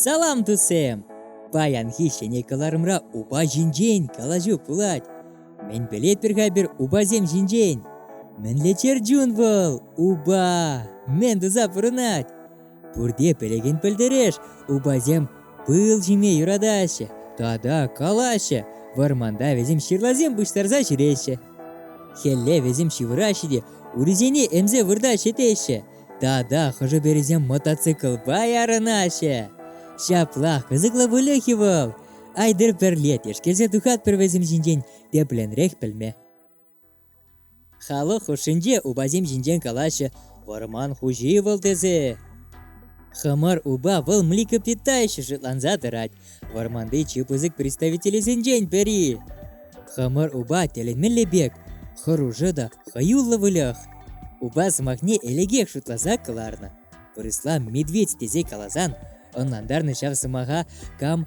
Салам, тусем! Паянхи ҫӗнӗ кӑларӑмра упа ҫинчен калаҫу пулать. Мӗн пӗлетпӗр-ха пир упасем ҫинчен? Мӗнле чӗр чун вӑл, упа! Мӗн туса пурӑнать? Пурте пӗлекен пӗлтереш, упасем пыл ҫиме юратаҫҫӗ тата калаҫҫӗ, вӑрманта вӗсем ҫырласем пуҫтарса ҫӳреҫҫӗ. Хӗлле вӗсем ҫывӑраҫҫӗ те урисене ӗмсе вырта ҫӗтеҫҫӗ. Тата хӑшӗ-пӗрисем мотоциклпа ярӑнаҫҫӗ. Ҫапла кӑсӑклӑ выльӑх-и вӑл? Айтӑр пӗрле тешкерсе тухатпӑр вӗсем ҫинчен тепленрех пӗлме. Халӑх хушшинче упасем ҫинчен калаҫҫӗ, вӑрман хуҫи вӑл тесе. Хӑмӑр упа вӑл млекопитающий шутланса тӑрать, вӑрманти чи пысӑк представителӗсенчен пӗри. Хӑмӑр упа тӗлӗнмелле пек, хӑрушӑ та хӑюллӑ выльӑх. Упа сӑмахне элӗкех шутласа кӑларнӑ. Вырӑсла медведь тесе каласан, ӑнлантарнӑ ҫав сӑмаха кам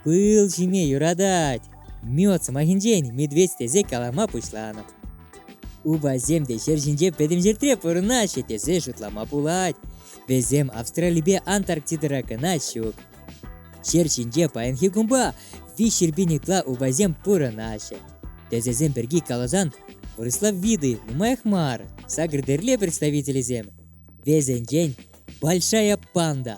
пыл ҫиме юратать. Мед сӑмахӗнчен медведь тесе калама пуҫланӑ. Упасем те ҫӗр ҫинче пӗтӗм ҫӗртре пурӑнаҫҫӗ тесе шутлама пулать. Вӗсем Австралипе Антарктидӑра кӑна ҫук. Ҫӗр ҫинче паянхи кунпа виҫҫӗрпин ытла упасем пурӑнаҫҫӗ. Тӗсӗсем пирки каласан вырӑслав виды нумаях мар сакӑр тӗрле представителӗсем. Вӗсенчен большая панда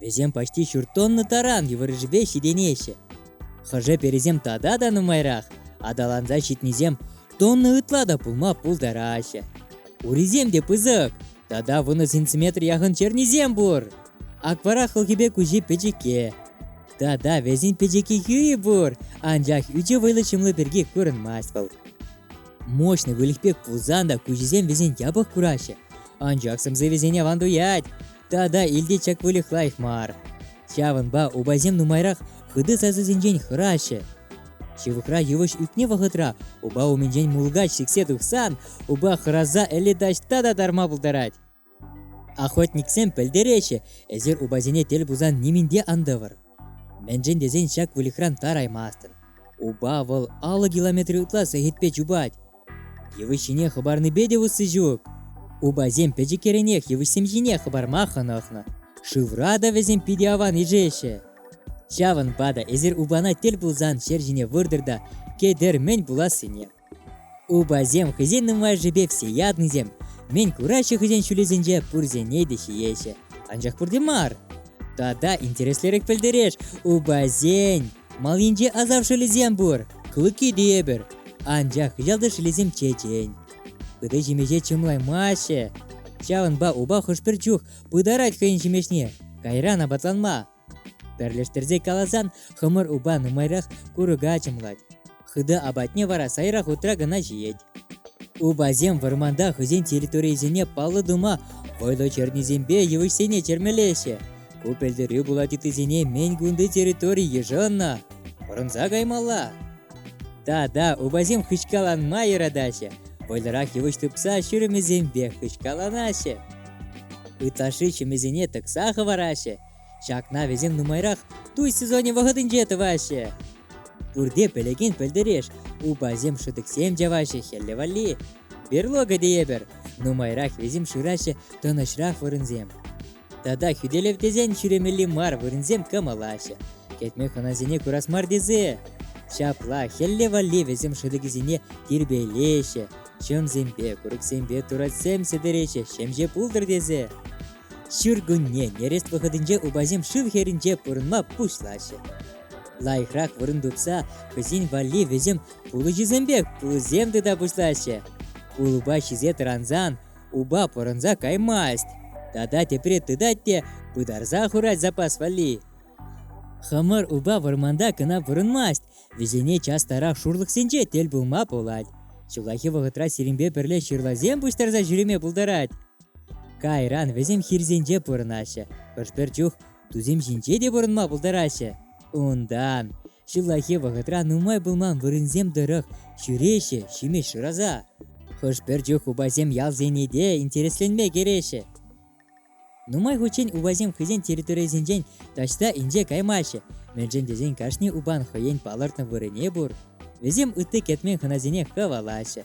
Вӗсем почти ҫурт тонна таран йывӑрришӗпе ҫитӗнеҫҫӗ. Хӑшӗ перисем тата та нумайрах, аталанса ҫитнисем тонна ытла та пулма пултараҫҫӗ. Урисем те пысӑк, тата вунӑ сантиметр яхӑн чернисем пур. Аквара хӑлхипе куҫи пӗчӗкке. Тата вӗсен пӗчӗкки хӳи пур, анчах ӳчӗ вӑйлӑ ҫӑмлӑ пирки курӑнмасть вӑл. Мощный выльӑх пек пулсан та куҫӗсем вӗсен япӑх кураҫҫӗ, анчах сӗмсӗ вӗсене аван туять. Тата илте чак выльӑх лайӑх мар. Ҫавӑнпа упасем нумайрах хытӑ сасӑсенчен хӑраҫҫӗ. Ҫывӑхра йывӑҫ ӳкнӗ вӑхӑтра упа умӗнчен мулкач сиксе тухсан упа хӑраса ӗле таҫта та тарма пултарать. Охотниксем пӗлтереҫҫӗ, эсир упасене тӗл пулсан нимӗн те ан тӑвӑр. Мӗншӗн тесен ҫак выльӑхран тараймастӑн. Упа вӑл алӑ километр ытла сехетпе чупать. Йывӑҫ ҫине хӑпарнипе те усси ҫук. Упасем пӗчӗккеренех йывӑҫсем ҫине хӑпарма хӑнӑхнӑ. Шывра та вӗсем питӗ аван ишеҫҫӗ. Ҫавӑнпа та эсир упана тӗл пулсан ҫер ҫине выртӑр та кӗтӗр мӗн пулассине. Упасем хӑйсен нумайӑшӗпех все ятнисем, мӗн кураҫҫӗ хӑйсен ҫулӗсенче пурсене те ҫиеҫҫӗ. Анчах пурте мар. Тата интереслерех пӗлтереш, упасен Малинче асар шӑлӗсем пур, клыки те эпир, анчах ялти шӑлӗсем чечен. Пыты ҫимӗҫе чӑмлаймаҫҫӗ. Ҫавӑнпа упа хӑш-пӗр чух пытарать хӑйӗн ҫимӗҫне, кайран апатланма. Пӗрлештерсе каласан, хӑмӑр упа нумайрах курӑка чӑмлать. Хытӑ апатне вара сайра хутра кӑна ҫиет. Упасем вӑрманта хӑйсен территорийӗсене паллӑ тума вӑйлӑ чӗрнисемпе йывӑҫсене чӗрмелеҫҫӗ. Ку пӗлтерӳ пулать ыттисене мӗн кунти территори йышӑннӑ. Пӑрӑнса каймалла. Тата упасем хыҫкаланма юратаҫҫӗ. Вӑйлӑрах йывӑҫ тупса ҫурӑмӗсемпе хыҫкаланаҫҫӗ. Ытлашши ҫӗмӗсене тӑкса хӑвараҫҫӗ. Ҫакна вӗсем нумайрах туй сезонӗ вӑхӑтӗнче тӑваҫҫӗ. Пурте пӗлекен пӗлтӗреш, упасем шӑтӑксем чаваҫҫӗ хӗлле валли. Берлога тейӗпӗр, нумайрах вӗсем шыраҫҫӗ тӑнӑҫрах вырӑнсем. Тата хӳтӗлев тесен ҫӳремелли мар вырӑнсем кӑмӑлаҫҫӗ. Кӗтме хӑнасене курас мар тесе. Ҫапла хӗлле валли вӗсем шӑтӑкӗсене тирпейлеҫҫӗ, чӑмсемпе, курӑксемпе туратсем сӗтӗреҫҫӗ ҫемҫе пултӑр тесе. Ҫуркунне нӗрес вӑхӑтӗнче упасем шыв хӗрринче пурӑнма пуҫлаҫҫӗ. Лайӑхрах вырӑн тупса хӑйсен валли вӗсем пулӑҫӑсемпе пулӑсем тыта пуҫлаҫҫӗ. Улӑпа ҫисе тӑрансан упа пӑрӑнса каймасть. Тата тепре тытать те пытарса хурать запас валли. Хӑмӑр упа вӑрманта кӑна пурӑнмасть, вӗсене частарах шурлӑхсенче тӗл пулма пулать. Ҫуллахи вӑхӑтра сирӗнпе пӗрле ҫырласем пуҫтарса ҫӳреме пултарать. Кайран вӗсем хирсенче пурӑнаҫҫӗ, хӑш-пӗр чух тусем ҫинче те пурӑнма пултараҫҫӗ. Унтан ҫуллахи вӑхӑтра нумай пулман вырӑнсем тӑрӑх ҫӳреҫҫӗ ҫимӗҫ шыраса. Хӑш-пӗр чух упасем ялсене те интересленме кӗреҫҫӗ. Нумай хутчен упасем хӑйсен территорийӗсенчен таҫта инҫе каймаҫҫӗ, мӗншӗн тесен кашни упан хӑйен палӑртнӑ вырӑнне пур. Вӗсем ытти кӗтмен хӑнасене хӑвалаҫҫӗ.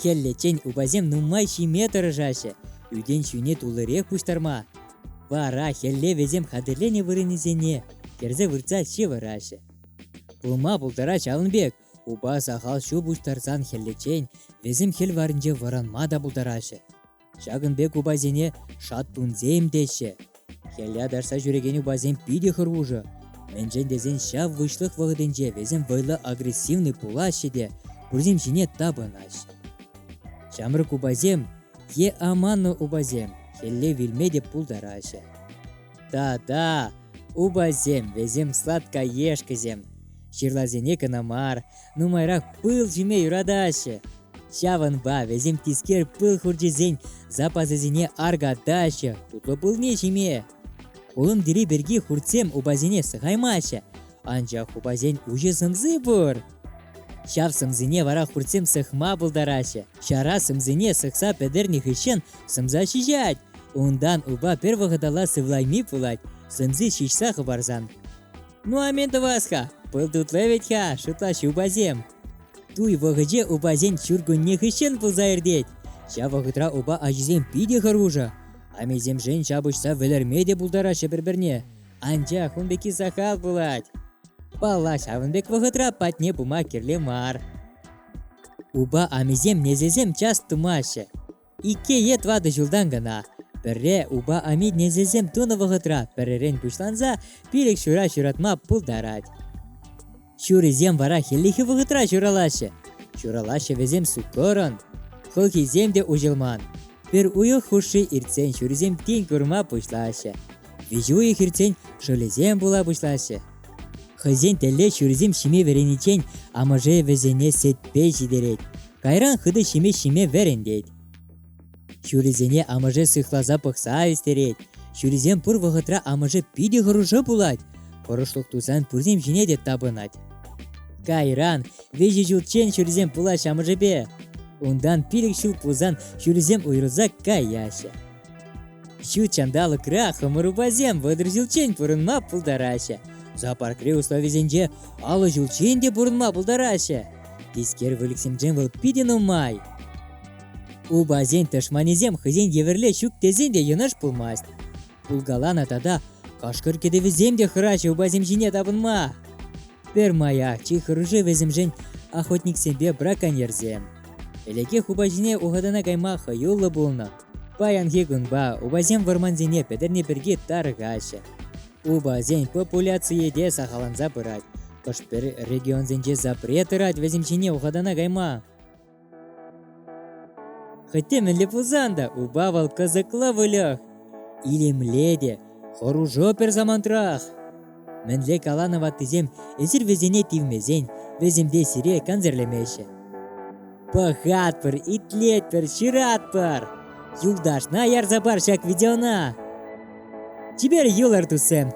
Хӗллеччен упасем нумай ҫиме тӑрӑшаҫҫӗ, ӳтен ҫӳне туллирех пуҫтарма. Вара хӗлле вӗсем хатӗрленӗ вырӑнӗсене кӗрсе выртса ҫывӑраҫҫӗ. Пулма пултарать ҫавӑн пек, упа сахал ҫу пуҫтарсан хӗллеччен вӗсем хӗл варринче вӑранма та пултараҫҫӗ. Ҫакӑн пек упасене шаттунсем теҫҫӗ. Хӗле тарса ҫӳрекен упасем питӗ хӑрушӑ. Мӗншӗн тесен ҫав выҫлӑх вӑхӑтӗнче весем вӑйлӑ агрессивнӑй пулаҫҫӗ те пурсем ҫине тапӑнаҫҫӗ. Ҫамрӑк упасем е аманнӑ упасем хӗлле вилме те пултараҫҫӗ. Та-та, упасем, весем сладкоешкӑсем. Ҫырласене кӑна мар, нумайрах пыл ҫиме юратаҫҫӗ. Ҫавӑнпа вӗсем тискер пыл хурчӗсен запасӗсене аркатаҫҫӗ тутлӑ пылне ҫиме. Улӑм тӗри пирки хуртсем упасене сӑхаймаҫҫӗ, анчах упасен уҫӑ сӑмси пур. Ҫав сӑмсине вара хуртсем сыхма пултараҫҫӗ. Ҫара сӑмсине сыхса пӗтернӗ хыҫҫӑн сӑмса ҫиҫать. Унтан упа пӗр вӑхӑталла сывлайми пулать, сӑмси ҫиҫсе хӑпарсан. Ну а мӗн тӑвас-ха, пыл тутлӑ вӗт-ха, шутлаҫ упасем. Туй вӑхӑче упасен ҫуркунне хыҫҫӑн пулса иртет. Ҫав вӑхӑтра упа ачисем питӗ хӑрушӑ. Амесемшен ҫапӑҫса вӗлерме те пултараҫҫӗ пӗр-пӗрне. Анчах ун пекки сахал пулать. Палла ҫавӑн пек вӑхӑтра патне пыма кирлӗ мар. Упа амисем несесем час тумаҫҫӗ. Икӗ е тӑватӑ ҫултан кӑна пӗрре упа амитнесӗсем тунӑ вӑхӑтра пӗререн пуҫланса пилӗк ҫура ҫуратма пултарать. Ҫурисем вара хӗллехи вӑхӑтра ҫуралаҫҫӗ. Ҫуралаҫҫӗ вӗсем суккӑрӑн. Хӑлхисем те уҫӑлман. Пӗр уйӑх хушши иртсен ҫурисем тин курма пуҫлаҫҫӗ. Виҫӗ уйӑх иртсен шӑлӗсем пула пуҫлаҫҫӗ. Хӑйсен тӗлле ҫурисем ҫиме вӗрениччен амӑшӗ вӗсене сетпе ҫитерет. Кайран хытӑ ҫимӗҫ ҫиме вӗрентет. Ҫурисене амӑшӗ сыхласа пӑхса ӳстерет. Ҫурисем пур вӑхӑтра амӑшӗ питӗ хӑрушӑ пулать. Хӑрушлӑх тусан пурсем ҫине те тапӑнать. Кайран виҫӗ ҫулччен ҫурисем пулаҫҫӗ амӑшӗпе. Унтан пилӗк ҫул пулсан ҫурисем уйрӑлса каяҫҫӗ. Ҫут ҫанталӑкра хӑмӑрупасем вӑтӑр ҫулччен пурӑнма пултараҫҫӗ. Зоопаркри условисенче аллӑ ҫулччен те пурӑнма пултараҫҫӗ. Тискер выльӑхсемшӗн вӑл питӗ нумай. Упасен тӑшманӗсем хӑйсен евӗрле ҫук тесен те йӑнӑш пулмасть. Пулкаланӑ тата кашкӑр кӗтӗвӗсем те хӑраҫҫӗ упасем ҫине тапӑнма. Пӗрмаях чи хӑрушӑ вӗсемшӗн охотниксемпе браконьерсем. Ӗлӗкех упа ҫине ухатана кайма хӑюллӑ пулнӑ. Паянхи кунпа упасем вӑрмансене пӗтерни пирки тарӑхаҫҫӗ. Упасен популяцийӗ те сахалланса пырать. Хӑш-пӗр регионсенче запрет тӑрать вӗсем ҫине ухатана кайма. Хӑть те мӗнле пулсан та упа вӑл кӑсӑклӑ выльӑх. Илемле те Хӑрушӑ пӗр самантрах. Мӗнле каланӑ ваттисем эсир вӗсене тивмесен вӗсемпе сире консерлемеҫҫӗ. Пӑхатпӑр, итлетпӗр, ҫыратпӑр. Юлташна ярса пар ҫак видеона. Чипер юлӑр, туссем.